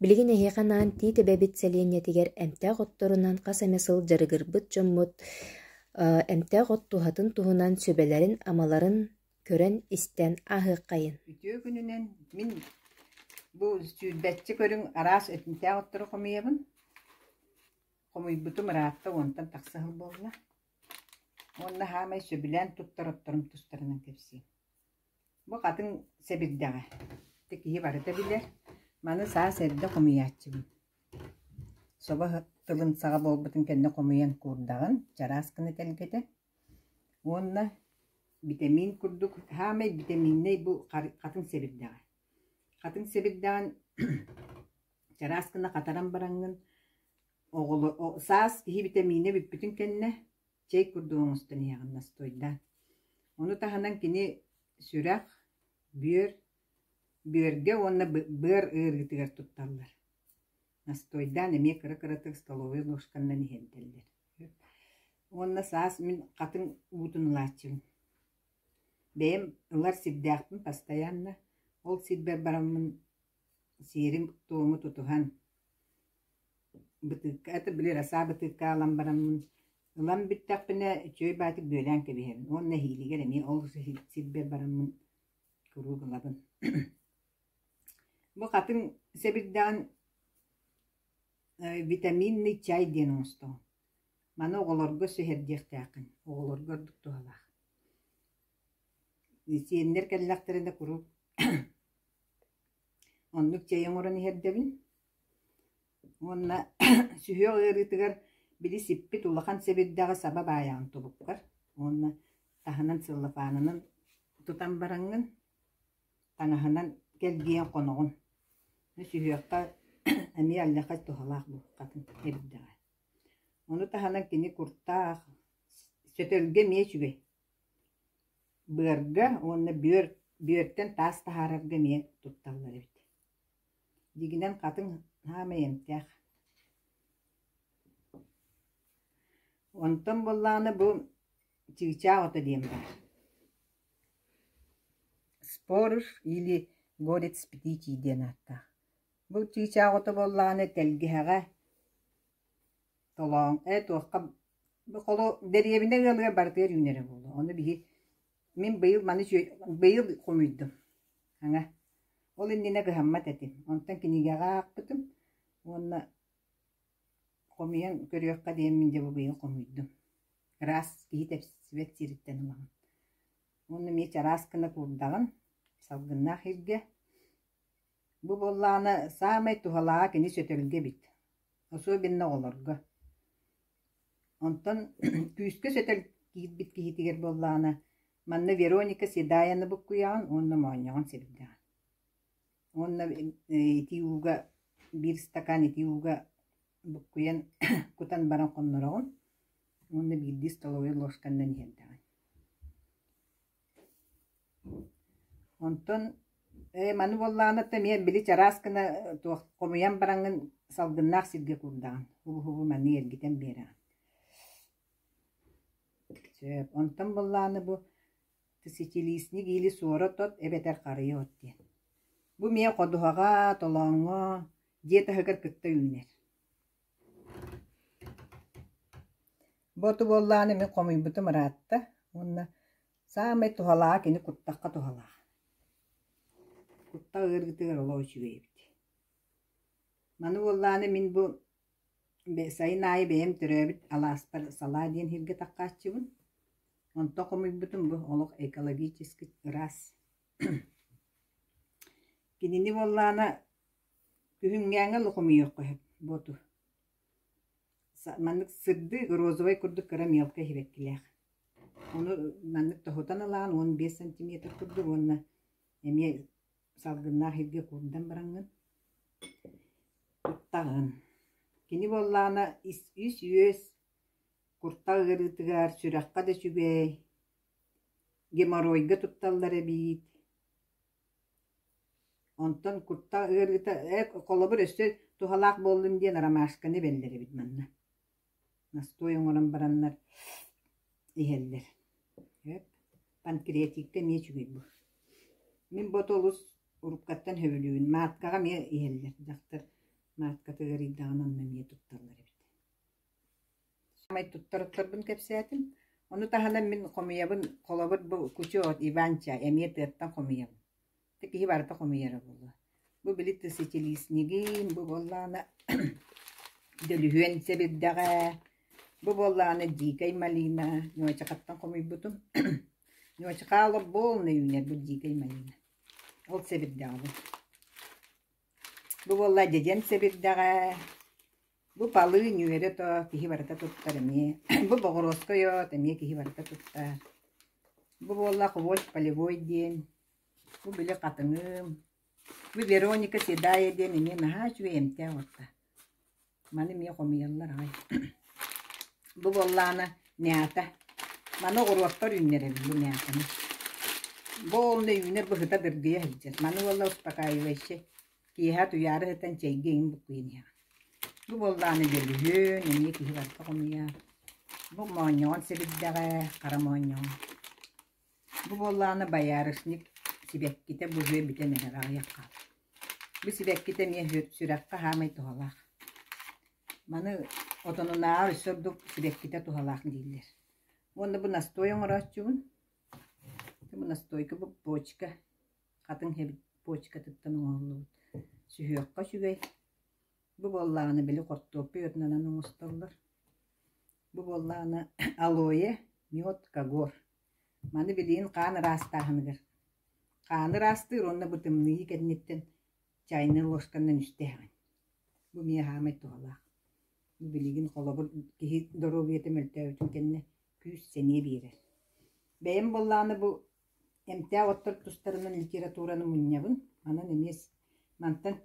Билигин эһиэхэ анаан Тиит эбэбит сэлиэнньэтигэр эмтээх отторунан хас эмэ сыл дьарыгырбыт дьоммут эмтээх от туһатын туһунан сүбэлэрин-амаларын көрөн-истэн ааһыаххайын Үтүө күнүнэн мин бу сүүрбэччэ көрүҥ араас этинтээх оттору хомуйабын. Хомуйбутум ыраатта уонтан тахса сыл буолла. Уонна саамай сөбүлээн туттар отторум тустарынан кэпсиим. Бу хатыҥ сэбирдэҕэ. Ити киһи барыта билэр. Маны саас эрдэ хомуйааччыбын. Собо тылын саҕа буолбутун кэннэ хомуйан куурдаҕын, чараас гына тэлгэтэ. Уонна битэмиин курдук саамай битэмииннэй бу хатыҥ сэбирдэҕэ. Хатыҥ сэбирдэҕин чараас гына хатаран бараҥҥын, оҕоло саас киһи битэмиинэ бүппүтүн кэннэ чэй курдук оҥостон иһэҕин настойда. Ону таһынан кини сүрэх, бүөр, бүөргэ уонна быар ыарыытыгар тутталлар. Настойдаан эмиэ кыра-кыратык столовой ложканнан иһэрдэллэр. Уонна саас мин хатыҥ уутун ылааччыбын. Бэйэм ылар сирдээхпин бастайанна, ол сирбэр бараммын Сиэрим-туому тутуһан, бытыыкка это били раса бытыыкка аалан бараммын, ылан бүттэхпинэ үчүгэй баатык бүөлээн кэбиһэрим уонна нэһиилигэр эмиэ ол сирбэр бараммын куруук ылабын. Бу хатыҥ сэбирдэҕин витаминный чай диэн оҥостоҕун. Маны оҕолорго сүһэрдиэхтээххин, оҕолорго ордук туһалаах. Сиэннэр кэллэхтэринэ куруук оннук чэй оҥорон иһэрдэбин уонна сүһүөх ыарыытыгар били сиппит улахан сэбирдэҕи саба баайаҕын тубуккар уонна таһынан целлофанынан тутан бараҥҥын, таҥаһынан кэлгийэн хоноҕун. Сүһүөххэ эмиэ аллякай туһалаах быһаххатын эрдэҕэ. Ону таһынан кини куртаах, сөтөлгө эмиэ үчүгэй. Быарга уонна бүөр бүөртэн таас таһаарарга эмиэ тутталлар эбит дьигинэн хатыҥ саамай эмтээх онтон буоллаҕына бу чыычаах ото диэн баар спорож или горец птичий диэн ааттаах бу чыычаах ото буоллаҕына тэлгэһэҕэ Толооҥ, ээ туохха холу дэриэбинэ ыалыгар барытыгар үүнэрэ буолуо. Ону биһи мин быйыл маны үчүгэй быйыл хомуйдум хаҥа. Ол иннинэ кыһаммат этим. Онтон кинигэҕэ аахпытым уонна хомуйан көрүөххэ диэн мин дьэ бу быйыл хомуйдум. Ыраас киһи тэпсибэт сириттэн ылаҕын. Уонна эмиэ араас гына куурдаҕын салгыннаах иргэ Бу буоллаҕына саамай туһалааҕа кини сөтөлгө эбит, особенно оҕолорго. Онтон күүскэ сөтөл киирбит киһитигэр буоллаҕына, манна Вероника Седаяны буккуйаҕын уонна моонньоҕон сирдэҕин. Уонна итии ууга биир стакан итии ууга буккуйан кутан баран хоннороҕун уонна биирдии столовой ложканнан иһэрдэҕин. Онтон ээ маны буоллаҕына эмиэ били чараас гына туох хомуйан бараҥҥын салгыннаах сиргэ куурдаҕын убу-хубу маннык эргитэн биэрэҕин сөп онтон буоллаҕына бу сичилиисник или суорат от эбэтэр харыйа от диэн бу эмиэ ходуһаҕа толооҥҥо дьиэ таһыгар кытта үүнэр Ботуоллааны мин хомуйбутум ыраатта уонна саамай туһалааҕа кини куттахха туһалаах. Куттах ыарыытыгар олох үчүгэй эбит. Маны уоллааны мин бу сайын аайы бэйэм төрөөбүт алаастар салаа диэн иһиргэ такkaаччыбын. Онтон хомуйбутум бу олох экологически ыраас. Кинини уоллаана күһүҥҥээҥи олох хомуйуохха сөп боту. маннык сырдык розовай курдук кыра мелко иһибэккилээх. Ону маннык тоһутан ылаан уон биэс сантиметр курдук уонна эмиэ салгыннаах иһиргэ куурдан бараҥҥын ыттаҕын. Кини буоллаҕына ис үс үөс, куртах ыарыытыгар, сүрэххэ да үчүгэй, геморройга тутталлар эбиит. Онтон куттах ыарыыта «Ээ, холобур, өссө туһалаах буоллум» диэн ромашканы ибэллэр эбит манна. Настой оҥорон бараннар иһэллэр. Эп, панкреатикта эмиэ үчүгэй бу. Мин бу оту олус уруккаттан сөбүлүүбүн. Мааткаҕа эмиэ иһэллэр. Дьахтар матката ыарыйдаҕына онно эмиэ тутталлар эбит. Саамай туттарыттарбын кэпсээтим, ону таһынан мин хомуйабын, холобур, бу кучок Иван-ча, эмиэ тыаттан хомуйабын. Ити киһи барыта хомуйара буолуо. Бу били тысячелистнигин, бу буоллаҕына дөлүһүөн сэбирдэҕэ, бу буоллаҕына дикай малина, ньуочахаттан хомуйбутум. Ньуочахаа олох буолнай үүнэр бу дикай малина. Ол сэбирдэҕэ бу. Бу буоллаа дьэдьэн сэбирдэҕэ. Бу балыы ньүөрэ тоо киһи барыта туттар эмиэ, бу боҕуруоска ойоот эмиэ киһи барыта туттар. Бу буолла «Хвост полевой» диэн, бу били хатыҥыым, бу Вероника Седая диэн эмиэ наһаа үчүгэй эмтээх уоtta. Маны эмиэ хомуйаллар аҕай. Бу буоллаана мята. Маны оҕуруоттар үүннэрэбилли мятаны. Бу онно үүнэр быһыта дыргыйа сылдьар. Маны буолла успокаивающий. Киэһэ утуйаары сытан чэйгэ иҥин буккуйан иһэҕин. Бу буоллаҕына дьөлүһүөн, эмиэ киһи барыта хомуйар. Бу моонньоҕон сэбирдэҕэ, хара моонньоҕон. Бу буоллаҕына боярышник сибэккитэ быһыа бүтэн эрэр аҕыйахха. Бу сибэккитэ эмиэ сү- сүрэххэ хаамай туһалаах. Маны отонунааҕар өссө ордук сибэккитэ туһалаах дииллэр. Уонна бу настой оҥорооччубун. Бу настойка, бу бочка. атын эбит почкатыттан оҥоһуллубут сүһүөххэ үчүгэй. Бу буоллаҕына били хортуоппуй ытынан оҥостоллор. Бу буоллаҕына алоэ, мед, кагор. Маны билигин хаан ыраастааһыныгар хааны ыраастыыр уонна бытымныы кэнниттэн чайнай ложканан истээҕин. Бу эмиэ хаамай туһалаах. Бу билигин холобур киһи доруобуйата мөлтөөбүтүн кэннэ күүс-сэниэ биэрэр. Бэйэм буоллаҕына бу Эмтээх оттор тустарынан литератураны мунньабын, онон эмиэ мантан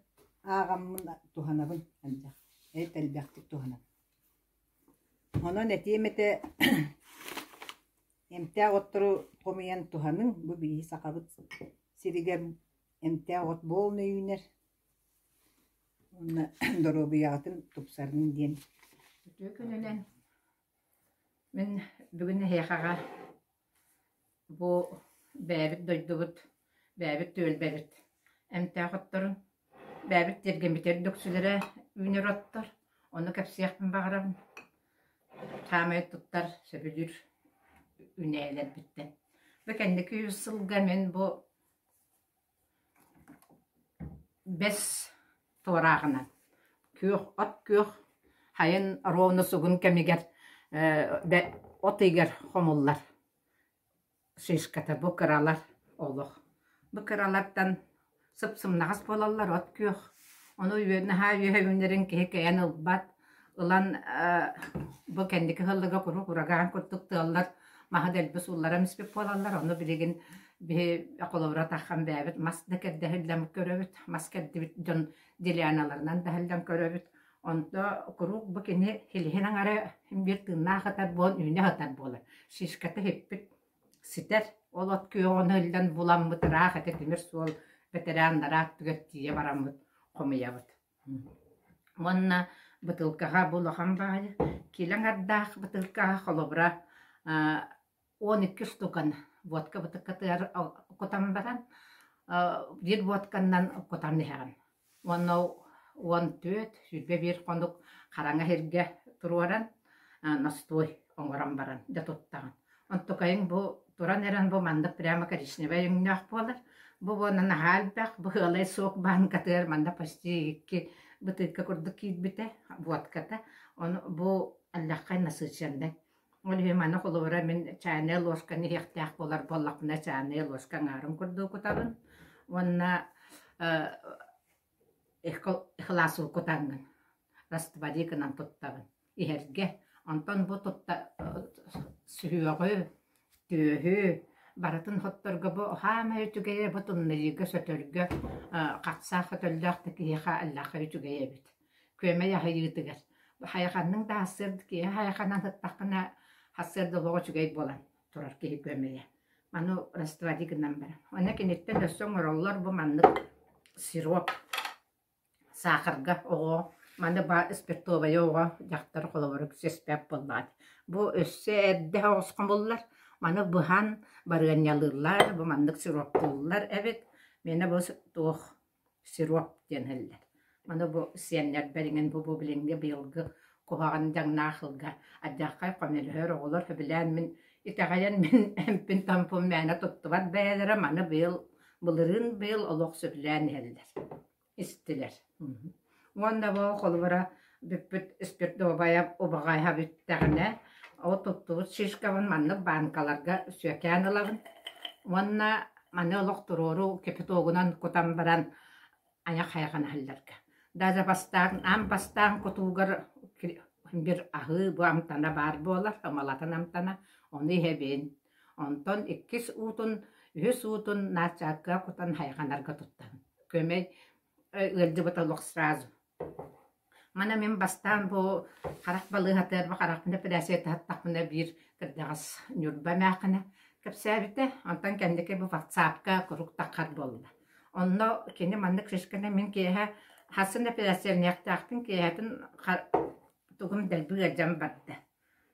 ааҕаммын туһанабын элбэх эт элбэхтик туһанан. Онон этиэм этэ эмтээх оттору хомуйан туһаныҥ, бу биһиги Сахабыт сиригэр эмтээх от буолан үүнэр уонна доруобуйаҕытын тупсарыҥ диэн. Үтүө күнүнэн мин бүгүн эһиэхэҕэ Бу бэйэбит дойдубут, бэйэбит түөлбэбит эмтээх отторун, бэйэбит тиэргэммит үрдүксүлэрэ үүнэр оттор, ону кэпсиэхпин баҕарабын. Саамай туттар, сөбүлүүр үүнээйилэрбиттэн. Бу кэнники үс сылга мин бу Бэс туорааҕынан күөх от күөх хайын рону сугун кэмигэр бэ от ыйыгар хомуллар шишката бу кыралар олох. Бу кыралартан сып-сымнаҕас буолаллар от күөх. Ону наһаа үөһэ үүнэрин киһи кэйэн ылбат ылан бу кэнники сыллыга куруук урагаан курдук тыаллар маһы дэлби суулларам испит буолаллар ону билигин биһи холобура таххан бэйэбит мас да кэрдэһиллэн көрөбүт мас кэрдибит дьон делианаларынан дэһиллэн көрөбүт онто куруук бу кини хилиһин аҥары биир тыыннаах атар буолан үүнэ атар буолар шишката һиппит ситэр ол от күөҕүнэ иллэн буламмыт ыраах этэ тимир суол бэтэрээн нараах түгэр тиийэ бараммыт хомуйабыт Уонна бытыылкаҕа бу улахан баайа, киилэ аҥардаах бытыылкаҕа холобура он икки штукан водка бытыккатыгар кутан баран биир водканнан кутан иһэҕин. Уонна уон түөрт, сүүрбэ биир хонук хараҥа иһиргэ туруоран, ностуой оҥорон баран дьэ туттаҕын. Оттукайыҥ бу туран эрэн бу маннык прямо коричневай өҥнөөх буолар. Бу буона наһаа элбэх, быһыалай суок бааҥкатыгар манна почти икки бытыыкка курдук киирбитэ, водката. Ону бу аллаххай насыщеннай. Ол иһин маны холобура мин чайная ложканы иһиэхтээх буолар буоллахпына чайная ложка аҥаарын курдук кутабын уонна э, икыласыл кутаҥҥын, раствори гынан туттабын. иһэргэ. Онтон бу тутта сүһүөҕү, түөһү, барытын хотторго бу хаамай үчүгэйэ бу туннайыыга сөтөргө хахсаах өтөллөөх да киһиэхэ аллаха үчүгэй эбит. Күөмэй аһыйыытыгар. Хайаханның да хассыыр киһи хайаханан сыттаххына хассыыр да олоҕо үчүгэй буолан турар киһи күөмэйэ. Маны раствори гынан баран. Оны киниттэн өссө оҥороллор бу маннык сироп Саахарга оҕо, маны баа спиртовайа оҕо, дьахтар холобурук сиэспэт буоллаҕыт. Бу өссө эрдэ оҕус хомуллар, маны быһан барыанньалыыллар, бу маннык сироптууллар эбит. Миэнэ бу туох сироп диэн иһиллэр. Маны бу сиэннэр бэриҥин бу бу билиҥҥи быйылгы куһаҕан дьаҥнаах сылга ардьааххай хомөлөһөр оҕолор сөбүлээн мин итэҕэйэн мин эмпин тампым мээнэ туттубат бэйэлэрэ маны быйыл былырыын быйыл олох сөбүлээн иһэллэр истилэр уонна бу холобура бүппүт спиртовая убаҕайа бүттэҕинэ ол туттубут шишкабын маннык баанкаларга сүөкээн ылабын уонна маны олох туруору капитогунан кутан баран айах хайҕана иһэллэргэ да запастаан аам бастаан кутуугар бир аһыы бу амтана баар буолар малатын амтана ону иһэбин Онтон иккис уутун, үһүс уутун нааччаакка кутан хайҕанарга туттан, көмө ыалдьыбыта олох сразу. Мана мин бастаан бу харах балыыһата харах нэпилээсийэ таһаттахпына биир кырдьаҕас ньурба эмээхинэ кэпсээбитэ, онтон кэнники бу ватсапка курук таххар буолла. Онно кини маннык шишканы мин киэһэ хас нэпилээссийэлэниэхтээхпин киэһэтин тугум дэлби ыалдьан барда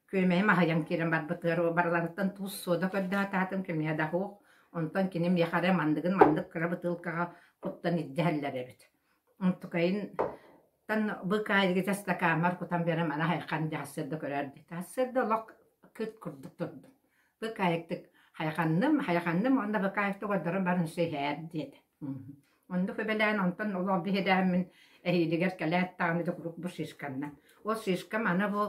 Күөмэйим аһыйан киирэн барбытыгар барыларыттан туус суода көрдөһө көмүһэ да суох, онтон кини миэхэ эрэ мандыгын маннык кыра бытыылкаҕа куттан илдьэ иһэллэр эбит. Онтукайынтан быкаайдыгы чэ стакааммар кутан биэрэн маны хайхан дьаһассыырда көрөөрдү. Дьаһассыырда олох кыт курдук турдум. Быкаайыктык хайаханным, хайаханным уонна быкаайыктык олордорум барын өссө иһээр диэтэ. Оннук үбэлээн онтон олох биһилээммин эһиилигэр кэлээт даҕаны да куруук бу шишканна. Ол шишка маны бу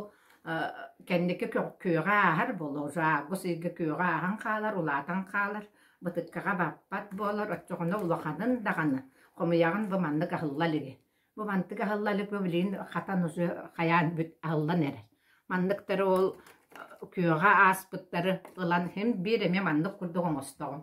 кэнники күөҕэ ааһар буолуо. Бу сиргэ күөҕэ ааһан хаалар, улаатан хаалар, бытыккаҕа баппат буолар, оччоҕуна улаханын даҕаны хомуйаҕын бу маннык аһылла илиги. Бу мантык аһылла илик бу билигин хатан уже хайаан бүт аһыллан эрэр. Манныктары ол күөҕэ ааспыттары ылан иһин биир эмиэ маннык курдук оҥостоҕум.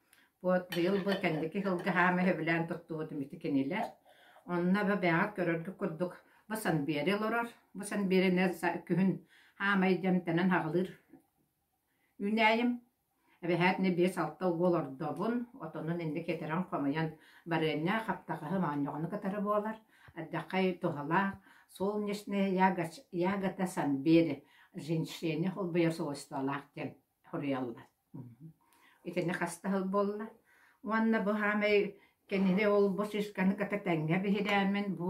Уот быйыл-бу кэнники кылгаһаа мөһөбүлээн туттубутум ити кинилэр. Онно бэбээҕит көрөргүт курдук, бу Санбиэри олорор, бу Санбиэринэ күһүн хаамай дьэ эмтэнэн хаҕылыыр үүнээйим. Эбэһээт ини биэс-алта угу олордобун, отонун инник этэрэн-хомуйан барыанньа хаптахаһы моонньоҕону кытары буолар. Ардаххай туһалаах солнечные ягода Санбиэри, женщине холбуйа свойстволаах диэн хоруйаллар Итини хас да сыл буолла уонна быһаамай кинини олбу сыысканы кытта тэҥҥэ биһирээмин бу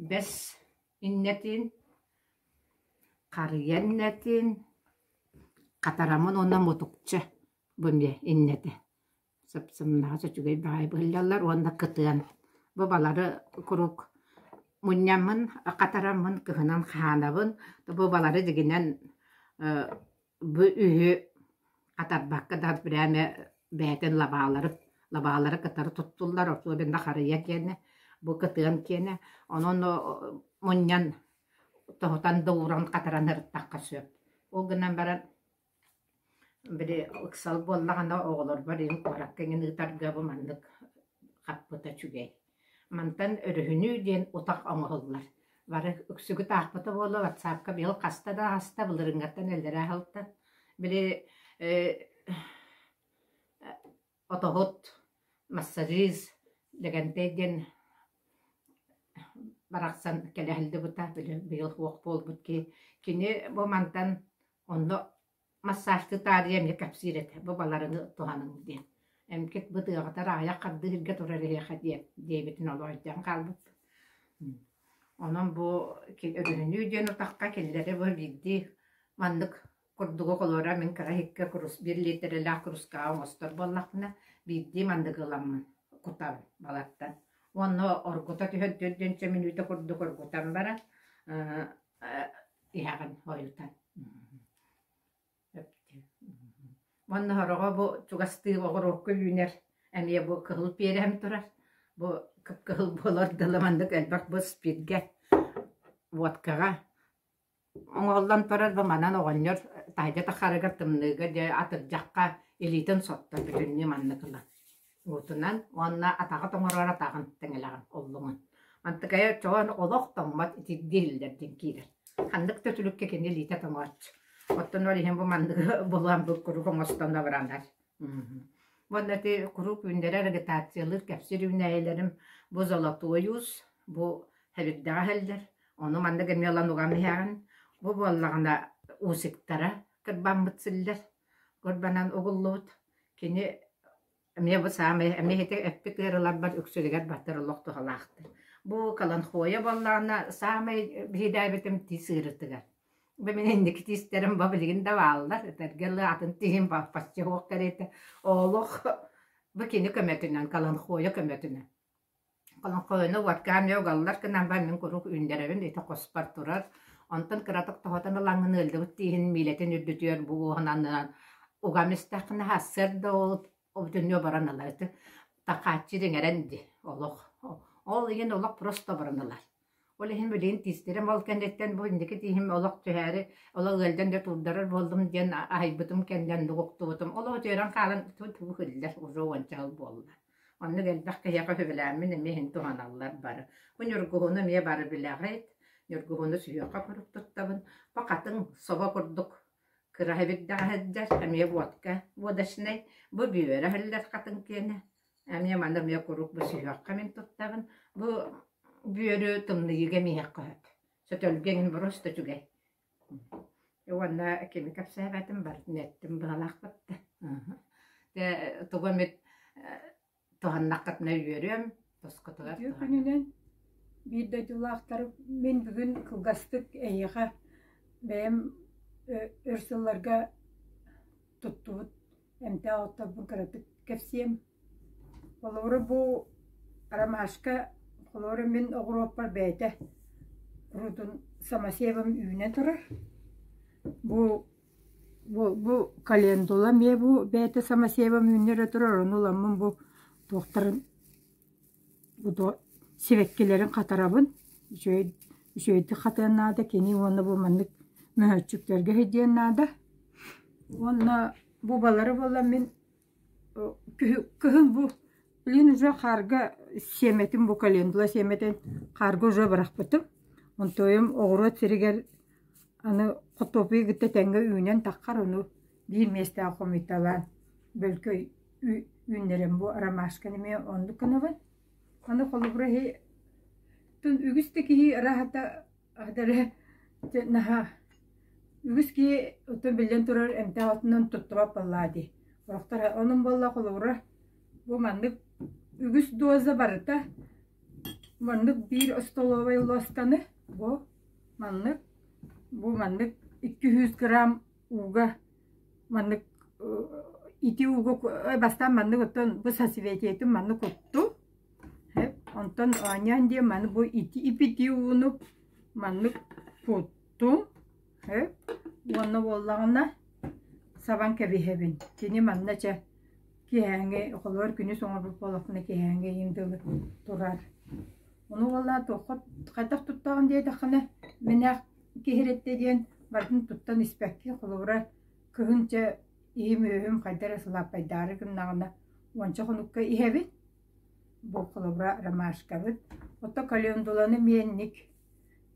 бэс иннэтин, харыйа иннэтин, хатарамын уонна мутукча бу эмиэ иннэтэ сапсымнаҕас үчүгэй баҕайы быһыллаллар уонна кытыан бу балары куруук мунньаммын хатараммын кыһынан хаһаанабын то бу балары дигинэн Бу үһү атарбакка да прямо бэйэтин лабаалары лабаалары кытары туттуллар особенно харыйа киэнэ бу кытыан киэнэ онон мунньан тоһутан да ууран хатаран ырыттахха сөп ол гынан баран били ыксал буоллаҕына оҕолорбор ин куоракка иҥин ыытарга бу маннык хаппыта үчүгэй Мантан өрүһүнүү диэн утах оҥоһуллар, бары үксүгүт аахпыта буолуо, ватсаапка быйыл хаста да аһаста, былырыыҥҥаттан эллэрээ аһылта. Били отоһут, массажист, Лэгэнтэй диэн барахсан кэлэ аһыллыбыта, били быйыл суох буолбут киһи. Кини бу мантан онно массажты таарыйа эмиэ кэпсиир этэ бу баларыҥы туһаныҥ диэн эмкит бытыаҕытар аҕыйах хардыыһырга турар эһиэхэ диэн диэбитин олоойдьон хаалбыт онон бу өрүһүнүү диэн утахха кинилэри бу биирдии маннык курдугу холуора мин кыра иһиккэ курус биир лиитирэлээх курускаҕа оҥостор буоллахпына биирдии мандыгы ыламмын кутабын балартан уонна оргута түһэрдиир диэн чэ мүнүүтэ курдук оргутан баран иһэҕин ойутан уонна сороҕо бу чугастыы оҕуруокка үүнэр эмиэ бу кыһыл пиэрэһим турар бу кыпкыһыл буолар дылы маннык элбэх бу спиргэ водкаҕа оҥоһуллан турар бу манан оҕонньор таһырдьа тахарыгар тымныыга дьэ атырдьахха илиитин сотто бүтүннүү маннык ылан Уутунан уонна атаҕы тоҥорор атаҕын тэҥэлэҕин оллуҥун. Мантыкайа оччоҕон олох тоҥмот итирдии иһиллэр диэн киирэр. Ханнык да түлүккэ кини илиитэ тоҥооч. Оттон ол иһин бу манныгы булан бу куруук оҥостон абыранар. Уонна ити куруук үүннэрэр агитациялыыр кэпсиир үүнээйилэрим бу золотоюз, бу хэбирдэҕэ иһэллэр. Ону маннык эмиэ ылан уган иһэҕин. Бу буоллаҕына уусиктара кырбаммыт силлэр. Курбанан угуллубут, кини эмиэ бу саамай эмиэхитэ эппит ыарыыларбар үксүгэр баттар олох туһалаахтар. Бу Каланхоя буоллаҕына саамай биһиrdээбитим тиис ыарыытыгар. Бу мин инники тиистэрим бу билигин да бааллар, этэргэ ылы атын тииһим баппачча суох кэриэтэ. Олох бу кини көмөтүнэн, Каланхоя көмөтүнэн. Олоҥхоһуну уоткаан дьэ угаллар гынан баран мин куруук үүннэрэрим ити хоспор турар. Онтон кыратык тоһутан ылаҥҥын ыалдьыбыт тииһин миилэтин үрдүтүөр бу буоһунанынан угам истэххинэ сарсыарда ол обутунньуо баран ылар ити. Такааччы дьиҥэрэн дии олох. Ол иһин олох просто баран ылар Ол иһин билигин тиистэрим ол кэнниттэн бу инники тииһим олох түһээри олох ыалдьан да турдарар буоллум диэн аһайбытым кэннэн нугуктубутум. Олох үтүөрэн хаалан туу хиллэр уже уонча сыл буолла. Оннук элбэх киһиэхэ сөбүлээммин эмиэ иһин туһаналлар бары. Бу Ньургуһуну эмиэ бары билэҕит. Ньургуһуну сүһүөххэ куруук туттабын. Бу хатыҥ собо курдук кыраһа бирдэҕэ сылдьар, эмиэ водка, водочнай. Бу бүөрэ сылдьар хатыҥ киэнэ. Эмиэ маны эмиэ куруук бу сүһүөххэ мин туттабын. Бу бүөрү тымныйыыга эмиэһиэххэ сөп. Сөтөлгө эҥин бороста үчүгэй. Уонна кими кэпсээбэтим барытын эттим быһалаахпытта. Дэ тугу эмит туһаннаххытына үөрүөм, тосхотугар Үтүө күнүнэн биир дойдулаахтар мин бүгүн кылгастык эйиэхэ бэйэм өр сылларга туттубут эмтээх отторбун кыратык кэпсиэм. Холобура бу ромашка, холобура мин оҕуруоппар бэйэтэ урутун самосевом үүнэ турар. Бу бу бу календула эмиэ бу бэйэтэ самосевом үүннэрэ турар, ону ыламмын бу туохтарын Буто сибэккилэрин хатарабын, үчүгэй, үчүгэйдик хатыан наада, кини уонна бу маннык мөһөөччүктэргэ сидиэн наада. Уонна бу балары буоллар мин кыһын бу блин уже хаарга сиэмэтин бу календула сиэмэтин хаарга уже бырахпытым. Онтуйум оҕуруот сиригэр аны хотуопуйу кытта тэҥҥэ үүнэн таххар ону биир миэстээх хомуйталаан бөлкөй үүннэрэн бу ромашканы эмиэ оннук гынабын. Аны холобура иһи тун үгүс да киһи ыраһата адары наһаа үгүс киһи оттон биллэн турар эмтэх аттынан туттубат буоллаа дии. Олохтора онун болла холобура бу маннык үгүс доза барыта маннык биир остолобай лостаны бу маннык бу маннык 200 грамм ууга маннык ити ууга бастаан маннык оттон бу сосветиетин маннык кутту онтон оонньоон диэн маны бу ити ипити ууну маннык куттум уонна буоллаҕына сабан кэбиһэбин кини манна чэ киһээҥи холобур күнүс оҥорбут буолахпына киһээҥи иин дылы турар ону уоллаа туохха хайдах туттаҕын диэтэххинэ мэнээх Киһирэттэ диэн барытын туттан испэккэ, холобура, кыһынча иһим-үөһүм хайда эрэ сылааппайдаары гыннаҕына, уонча хонукка иһэбин. Бу холобура ромашкабыт. Оттон календуланы миэнник,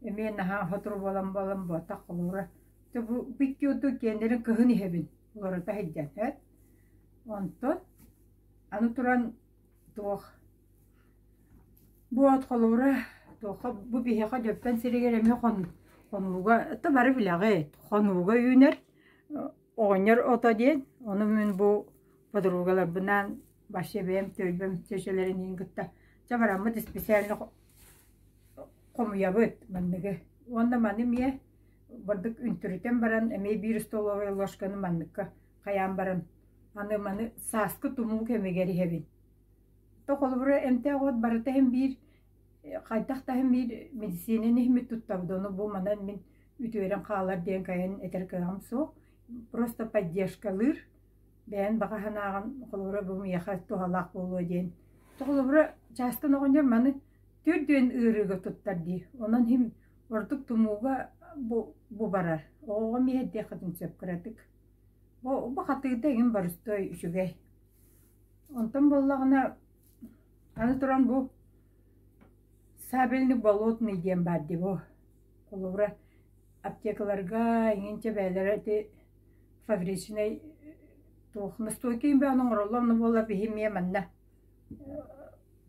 эмиэ наһаа сотору буолан буолан буотах холобура. То бу бүкки ордук киэннэрин кыһын иһэбин, уларыта сылдьан, һэт? Онтон аны туран Туох бу от холобура туохха бу биһиэхэ Дьөппөн сиригэр эмиэ хон хонууга то бары билэҕит хонууга үүнэр оҕонньор ото диэн ону мин бу подругаларбынаан вообще бэйэм түөлбэм чэчэлэрин иһин кытта чабыраммыт исписээлини хомуйабыт манныгы уонна маны эмиэ бырдык үнтүрүтэн баран эмиэ биир столовая ложканы манныкка Хайаан баран, аны маны сааскы тумуу кэмигэр иһэбин. То холобура эмтээх уот барыта иһин биир хайдах да иһин биир медицинаны иһиммит туттабыт ону бу манан мин үтүөрэн хаалар диэн кайан этэр кыаҕым суох просто поддержкалыыр бэйэн баҕа санааҕын холобура бу миэхэ туһалаах буолуо диэн холобура частан оҕонньор маны түрдүөн ыарыыга туттар дии онон иһин ордук тумууга бу бу барар оҕоҕо миэхэ диэххитин сөп кыратык Бу бахатыырда эҥин боростуой үчүгэй. Онтон буоллаҕына, аны туран бу сабельный болотный диэн баар дии бу. Холобура, аптекаларга иҥинчэ бэйэлэрэ ити фабричнай туох настойка имбээн оҥороллор, ону буолла биһи эмиэ манна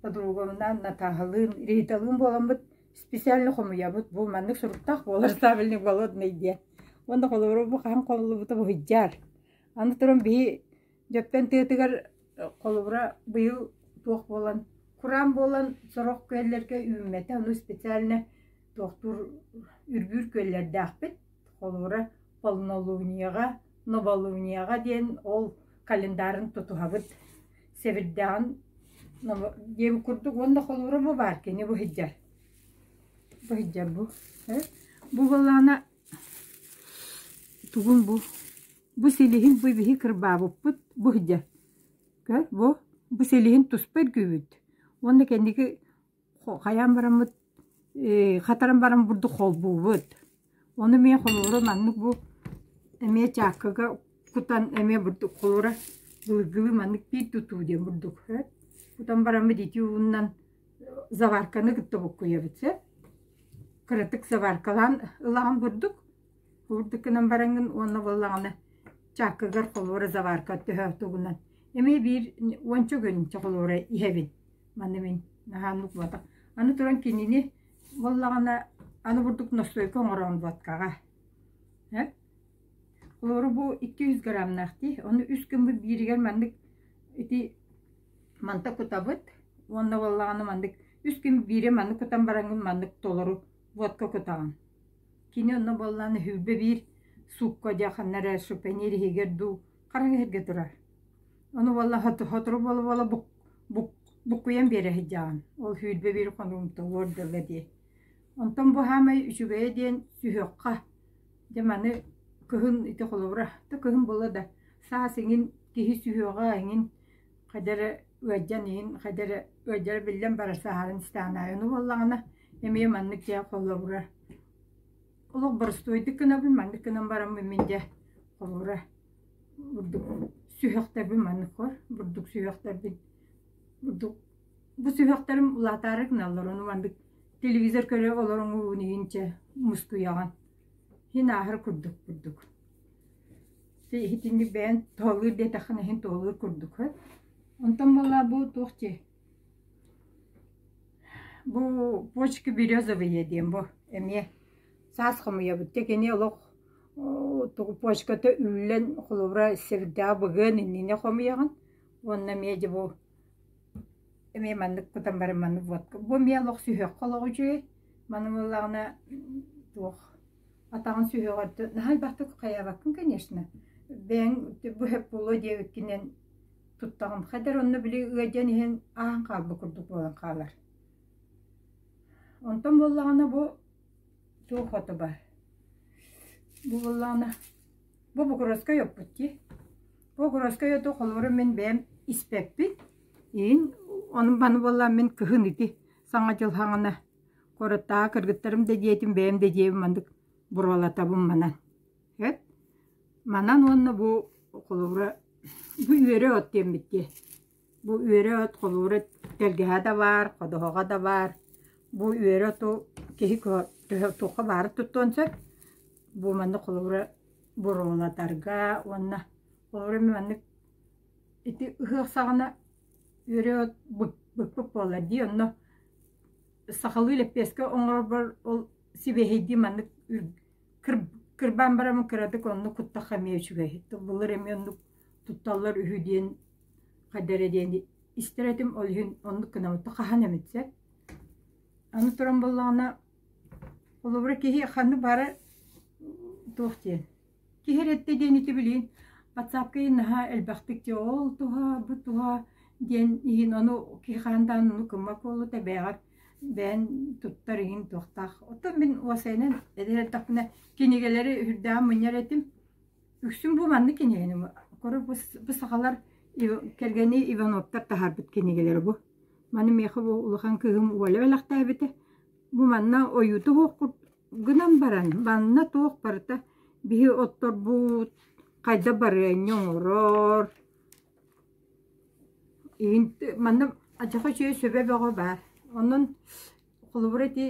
подругабынаан Натааһалыын, Риталыын буоламмыт специально хомуйабыт бу маннык суруктаах буолар табельный голодный диэн уонна холобура бу хаһан холуллубута буһуйдьаар аны туран биһи дьөптөн тыатыгар холобура быйыл туох буолан кураан буолан сорох күөллэргэ үүммэтэ ону специально тохтур үрбүүр күөллэрдээхпит холобура полнолунияҕа новолунияҕа диэн ол календарын тутуһабыт Сэбирдэҕин диэбит курдук уонна холуорума баар кини бу сыдьар. Бу сыдьар бу. Бу балаана тугун бу? Бу силиһин бу биһи кырбаабыппыт бу сыдьар. Көр бу бу силиһин туспа эргибит. Уонна кэнники Хайаан бараммыт ээ хатаран баран бурдук холбуубут. Ону эмиэ холууру маннык бу эмиэ чааккага кутан эмиэ бурдук холуура былыргылыы маннык биир тутуу диэн бурдук эт. Кутан бараммыт ити ууннан заварканы кытта буккуйабыт сэ. Кыратык заваркалаан ылаан бурдук Уурдук гынан бараҥҥын уонна буоллаҕына чааккыгар холуора заварка төһө тугунан эмиэ биир уонча күнчэ холуора иһэбин. Маны мин наһаа нукбатах. Аны туран кинини буоллаҕына аны бурдук ностуойка оҥороон буоткаҕа. Э? Холуору бу икки жүз граммнаах дии. Ону үс күммүт бииригэр маннык ити манта кутабыт уонна буоллаҕына маннык үс күн биире маннык кутан бараҥҥын маннык толору водка кутаҕын. Кини онно буоллаан өһүлбэ биир суукка одьаханна эрэ шупэниир иһигэр дуу хараҥа иһэргэ турар. Ону буолла сотору буола-буола бук бук буккуйан биэрэ сылдьаҕын. Ол сүүрбэ биир хонугумта уор дылы дии. Онтон бу хаамай үчүгэйэ диэн түһүөххэ. Дьэ маны кыһын ити холобура. Да кыһын буола да саас эҥин киһи сүһүөҕэ эҥин Хайда эрэ ыалдьан иһин, хайда эрэ ыалдьара биллэн барар сааһыран сытаан аайы ону буоллаҕына эмиэ маннык дьэ холобура олох боростуойдук гынабын, маннык гынан бараммын мин дьэ холобура бурдук сүһүөхтэрбин маннык хор бурдук сүһүөхтэрбин бурдук бу сүһүөхтэрим улаатаары гыналлар ону маннык телевизор көрө олороҥ ууну иһин чэ мускуйаҕын иһин ааһар курдук бурдук иһитинни бэйэн туһалыыр диэтэххинэ иһин туһалыыр курдук э онтон буоллар бу туох дии бу почки березовые диэн бу эмиэ саас хомуйабыт дьэ кини олох тугу почката үллэн холобура сирдээх быгыан иннинэ хомуйаҕын уонна эмиэ дьэ бу Эмиэ маннык кутан баран маннык водка бу эмиэ олох сүһүөххэ олоҕу үчүгэй маны буоллаҕына туох атаҕын сүһүөҕүттэн наһаайбахтык хайаабаккын конечно бэйэҥ быһа буолуо диэбиккинэн туттаҕым хайдар онно били ыалдьан иһэн ааһан хаалба курдук буолан хаалар онтон буоллаҕына бу суох отобо бу буоллаҕына Бу бугуруоскай оппут дии. Бу бугуруоскай оту хомурун мин бэйэм испэппит. Иһин ону маны буоллаан мин кыһын ити саҥа дьыл хаҥана корыттаҕа кыргыттарым да диэтим, бэйэм да диэбим маннык буруолатабын манан. Эт манан уонна бу холобура бу үөрэ от диэммит дии. Бу үөрэ от холуура тэлгэһэ да баар, ходоһоҕо да баар. Бу үөрэ оту киһи туохха баарын туттуон сөп. Бу маннык холуура буруолатарга уонна холуура эмиэ маннык ити ыһыах саҕана үөрэ от быкпык буолар дии. Онно сахалыы лэппиэскэ оҥорбор ол сибиэһэйдии маннык кырбаан бараммын кыратык оннук куттахха эмиэ үчүгэй. Былыр эмиэ оннук тутталлар үһү диэн Хайда эрэ диэн истэр этим, ол иһин оннук гынаммыта хаһан эмит сөп. Аны туран буоллаҕына, холобура киһи ханнык баара туох диэн. Киһи эрэтэ диэн ити билигин ватсапкайын наһаа элбэхтик дьэ ол туһа, бу туһа диэн иһин ону киһи хаһан даҕаны ону гыммат буолуо да бэйэҕэр бэйэн туттар иһин туохтаах. Оттон мин уосайынан эдэр эрдэхпинэ кинигэлэри үрдээн мунньар этим. Үксүн бу маннык кинигэни көрө бу бу сахалар кэргэни Ивановтар таһаарбыт кинигэлэрэ бу. Маны миэхэ бу улахан кыыһым Оля өлөхтөөбүтэ. Бу манна ойууту туохкур гынан баран, манна туох барыта биһи отторбут хайда барыанньа оҥорор. Иһин манна адьаха үчүгэй сөбө бөҕө баар. Онон Холобура ити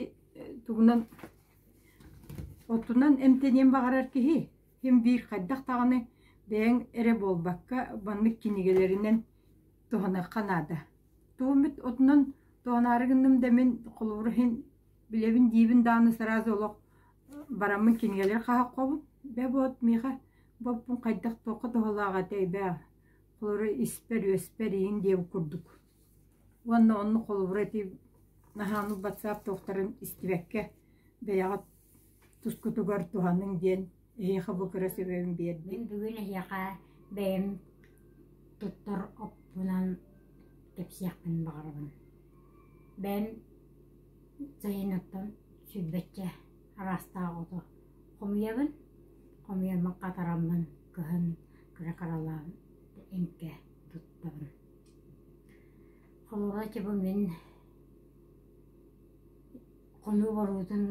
тугунан оттунан эмтэниэн баҕарар киһи ким биир хайдах даҕаны бэйэҥ эрэ буолбакка маннык кинигэлэринэн туһаныахха наада. Тугум эт отунан туһанаары гынным да мин холобура иһин билэбин диибин дааны сразу олох бараммын кинигэлэр хаһаххобун бэ буот миэхэ боппун хайдах туохха туһалаах этэй бээ холобура испэр үөспэр иин диэбит курдук Уонна онно холобура ити наһааны батсаап туохтарын истибэккэ бэйэҕэ тускутугар туһаныҥ диэн эһиэхэ бу кыра сөбөбүн биэрдим. Мин бүгүн эһиэхэ бэйэм туттар оппунан кэпсиэхпин баҕарабын. Бэйэм сайыныттан сүүрбэччэ араастаах оту хомуйабын, хомуйаммын хатараммын кыһын кыра-харалаан эҥкэ туттабын. Хомуга ити бу мин хонуу боруутун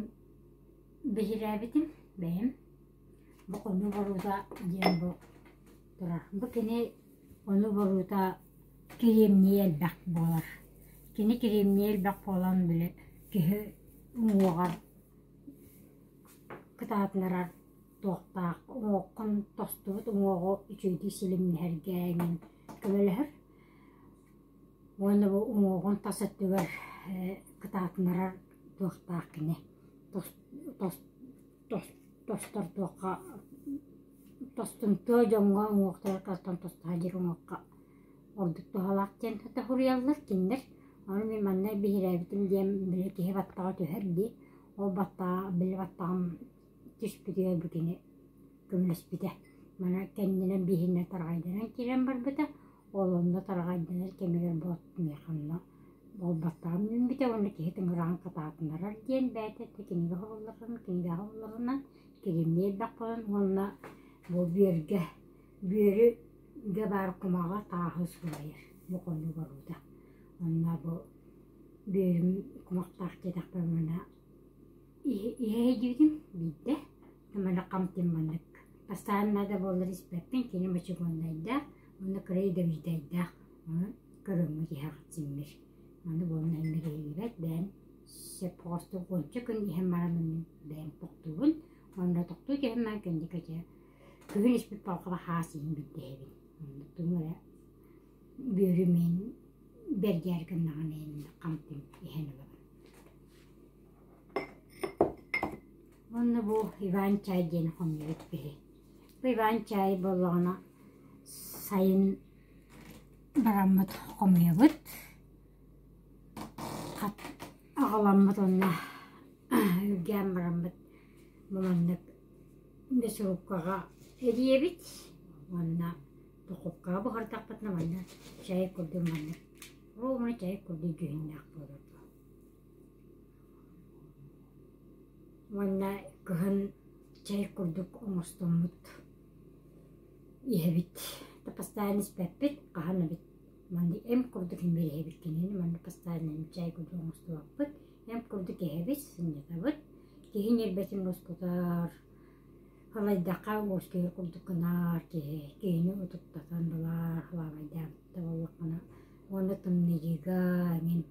биһирээбитим бэйэм. Бу хонуу борута диэн бу турар. Бу кини хонуу борута кириэмнии элбэх буолар. Кини кириэмнии элбэх буолан били киһи уҥуоҕар кытаатынарар туохтаах. Уҥуоххун тостубут уҥуоҕу үчүгэйдик силимнэһэргэ эҥин көмөлөһөр уонна бу уҥуоҕун тас өттүгэр кытаатынарар туохтаах кини тостордуохха тостумтуо дьоҥҥо уҥуохтарыттан тостуһа илик уҥуохха ордук туһалаах диэн өтө суруйаллар кинилэр ону мин манна биһирээбитим диэн били киһи баттаҕа түһэр дии ол баттаҕа били баттаҕым түспүтүгэр бу кини көмөлөспүтэ. Мана кэннинэн биһинэ тарҕайданан киирэн барбыта, ол онно тарҕайданар кэмигэр Боотмех онно буолбаттаан үүммүтэ уонна киһи тыҥыраҕын хатаатынарар диэн бэйэтэ да кинигэ хоһулларын, кинигэҕэ ылларынан киһимни элбэх буолан уонна бу бүөргэ бүөрүгэ баар кумаҕа тааһы сылайар бу хонук оруута. Онно бу бүөрүм кумахтаах диэтэхпэ мана Иһэйдибитим биирдэ мөлөх хамтым маннык бастаан наада буоллар испэппин кини мочугуоннайдаах уонна кыра идэбиирдэйдээх ону көрөҥҥө тиһэҕин симмир аны буолан иннэ киһилибэт бэйэм сөп оҕустук уонча күн иһэн баран мин бэйэм тохтуубун уонна тохтуу түһэн баран кэнникэтэ күһүн испит балкаба хаас иһин бирдэһэбин онно тугу эрэ бүөрүмүн бэргээри гыннаҕына ин хамтым иһэн ылабын Уонна бу Иван чай диэн хомуйбут киһи. Бу Иван чай буоллаҕына сайын бараммыт хомуйабыт. Хат аҕаламмыт уонна үргээн бараммыт баланнык мясорубкаҕа эрийэбит уонна духовкаҕа буһартахпытына манна чай курдук маннык. Ол чай курдук дьүһүннээх буолар. Уонна кыһын чай курдук оҥостоммут иһэбит. Да постоянно испэппит, хаһан эбит манна эн курдук имириһэбит кинини манна постоянно чай курдук оҥостубаппыт, эн курдук иһэбит, сынньатабыт. Киһи ньирбэтин ускутар, халайдахха ложкига курдук гынар киһи, киһини утуктатан ылар, халаабайдаан да буоллаххына уонна тымныйыыга эҥин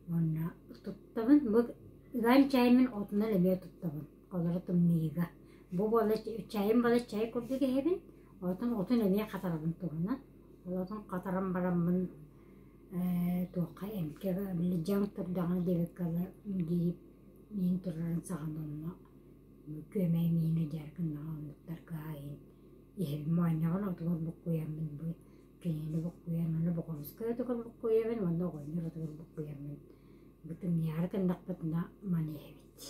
Уонна туттабын. Бу ыам чаайым мин отунан эмиэ туттабын. Холоро тымныыга. Бу буола чаайым буола чай курдук иһэбин. Оттон отун эмиэ хатарабын туһунан. Ол отун хатаран бараммын ээ туохха эмкэҕэ дьаҥ турдаҕына диэбиккэ ылла дии миин турарын саҕан онно күөмэй миини дьэр гыннаҕа оннуктарга иһэбин. Моонньоҕон отугар буккуйаммын бу Кэннилэ буккуйармын, Бокуруускайга токон буккуйабын уонна оҕонньор отугар буккуйармын бытымньаары гыннахпытына маныйабыт.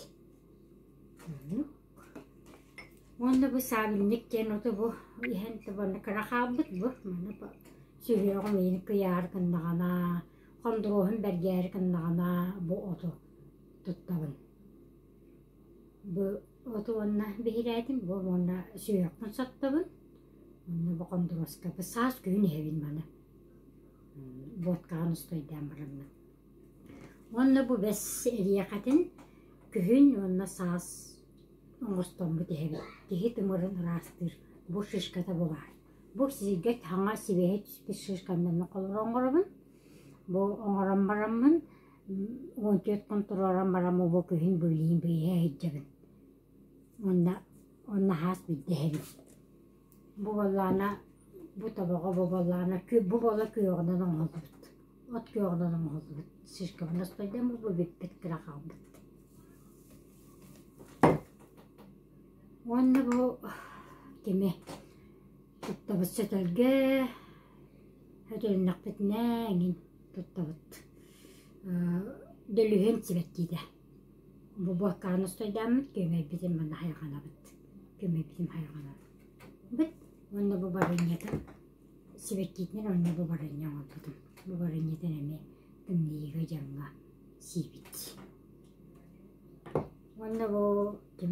Уонна бу саабинньык диэн оту бу иһэн табаны кыра хаалбыт бу. Маны сүһүөҕүм иини кыйаары гыннаҕына, хондуруоһун бэргээри гыннаҕына бу оту туттабын. Бу оту уонна биһирээтим буолан уонна сүһүөхпүн соттобун уонна бу хондуруоскабы саас күһүн иһэбин маны водкаҕын устуйдаан бараммын. Уонна бу бэс эриэхэтин күһүн уонна саас оҥостоммут иһэбит. Киһи тымырын ыраастыыр. Бу шишката баҕар. Бу сииргэ хаҥа сибиэһэй шишкам манна холоро оҥоробун. Бу оҥорон бараммын Мультик хонтуруолан баран мобилиһин биирдэ иһирдьэбин. Уонна уонна хас биирдэ иһэрим. Бу буоллаҕына бу тобоҕо бу буоллаҕына бу буола күөҕүнэн оҥоһуллубут. От күөҕүнэн оҥоһуллубут. Шишкаба настойдам буолбут бүппүт кыра хаалбыт. Уонна бу кими Туттабыт сөтөлгө өтөлүннэхпитинэ эҥин туттабыт дөлүһүөн сибэккиитэ бу буоккааны устуйдааммыт күөмэйбитин манна хайҕанабыт күөмэйбитин хайҕанабыт быт уонна бу барынньатын сибэккиитинэн уонна бу барынньа оҥорбутум бу барынньатын эмиэ тымныйыыга дьаҥҥа сиибит уонна бу ким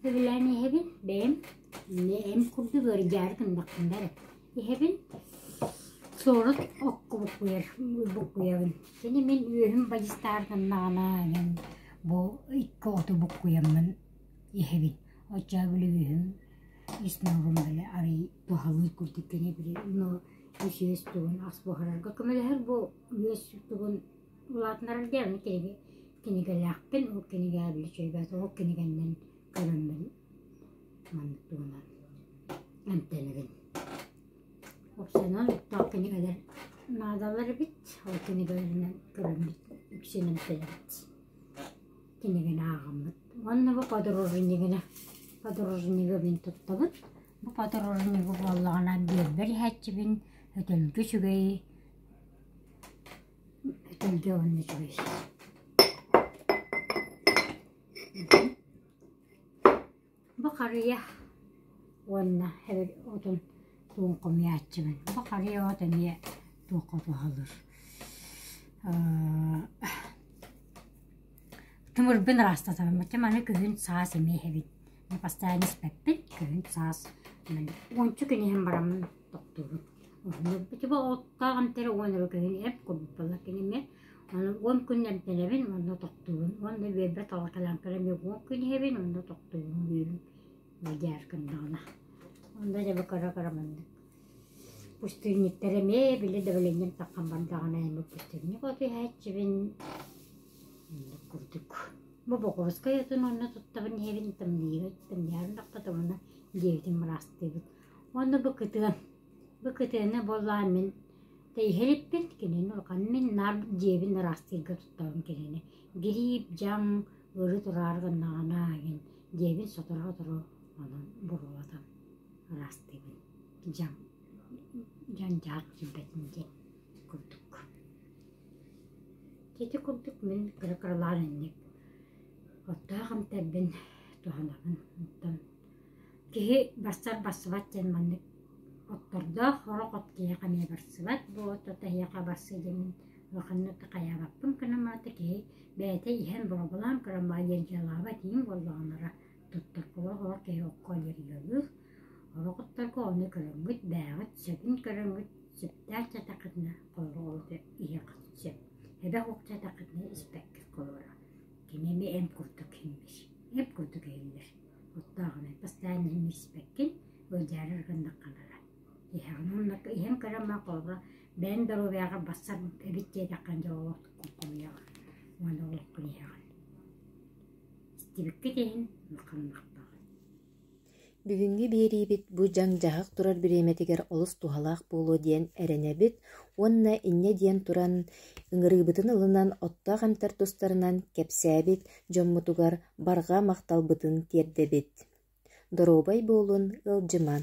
Сырыйаан иһэбин бэйэм эм курдук ыардьаары гыннахпына эрэ иһэбин сорох оккубуккуйар буккуйабын кини мин үөһүм бадьыстаан гыннаҕына иһэн бу икки оту буккуйаммын иһэбин оччо бүлүгүһүм снорум били арыый туһалыыр курдук кини били но үс үөс тугун ас буһарарга көмөлөһөр бу үөс тугун Улаатынарым дьэ аны киһини кинигэлээхпин, ол кинигэҕэ били чэйбээт оһох кинигэннэн көрөммүн маннык туһунан эмтэнэбин. Общенан оттоох кинигэлэр наадалар эбит, ол кинигэлэринэн көрөммүт, иксин эмтэнэбит. Кинигэни ааҕаммыт. Уонна бу подорожнигыны, подорожнигыбын туттабыт. Бу подорожнига буоллаҕына биэрбэр иһээччибин, өтөлгү сүгэйи Этэлгэ оонньуутугай Бакарыйа уонна отун тугун хомуйааччыбын. Бакарыйа от эмиэ туохха туһалыыр. Тымырбын ыраастатабын. Чэ маны күһүн саас эмиэ иһэбин. Бастаан испэппин, күһүн саас уончу күн иһэн бараммын тохтуубут. Өлбүтүбэ оттоох эмтэрэ уон эрэгэһин эп курбула киними аны он күн эмтэнэбин онно тохтуубун уонна биэрбэт оҕоталаанкара эмиэ он күн иһэбин онно тохтуубун диирим бадьаашкам даҕана онно дьэбэ кара кара маннык пустынниктар эмиэ били дэбилинним таххан бардаҕына эми пустынник оту иһээччибин мындык курдук бу бокуоскай отун онно туттабын иһэбин тамныйбыт тамныйарын тохтотомуна диэбитин мыраастыыбыт Уонна бу кытыам. Бу кытыаны буоллаҕа мин тэйиһэ иликпин, кинини улаханнык мин наар дьиэбин ыраастыырга тутуспатаҕым кинини. Гириип, дьаҥ, ырыы турары гыннаҕына эҥин дьиэбин сотору-сотору онон буруолатан ыраастыыбын. Дьаҥ, дьандьаар сүүрбэтин диэн курдук. Ити курдук мин кыра-кыралаан инник оттоох амтайбын туһанабын. Оттон Киһи барсар-барсыбат диэн маннык оттордоох сорох от киһиэхэ эмиэ барсыбат бу от ото эһиэхэ барсыы диэн мин улаханнык хайаабаппын гынан барыта киһи бэйэтэ иһэн бообулаан көрөн баҕа диэн дьыалаабат иһин буоллаҕынара туттар буола сорох киһи окко үөрүүлүүр сорох отторго ону көрөҥҥүт бээҕит сөбүн көрөҥҥүт сөптөөх дьатаххытына холоругу иһиэххит сөп эбэх ук дьатаххытына испэккит холура кини эмиэ эм курдук иһиллэр эм курдук иһиллэр куттааҕынай бастаан иһин испэккин, ыалдьаары гыннахха бара. Иһэҕин уонна иһэн кырамма холобура бэйэҥ доруобуйаҕар барсар эбит диэтэххин дьэ олоххун хомуйаҕын уонна олоххун иһэҕин. Истибиккит иһин ханнахтаҕын. Бүгүҥҥү биэриибит бу дьаҥ-дьаһах турар бириэмэтигэр олус туһалаах буолуо диэн эрэнэбит уонна инньэ диэн туран ыҥырыыбытын ылынан оттоох эмтэр тустарынан кэпсээбит дьоммутугар барҕа махталбытын тиэрдэбит. Доруобай буолун, ыалдьымаҥ!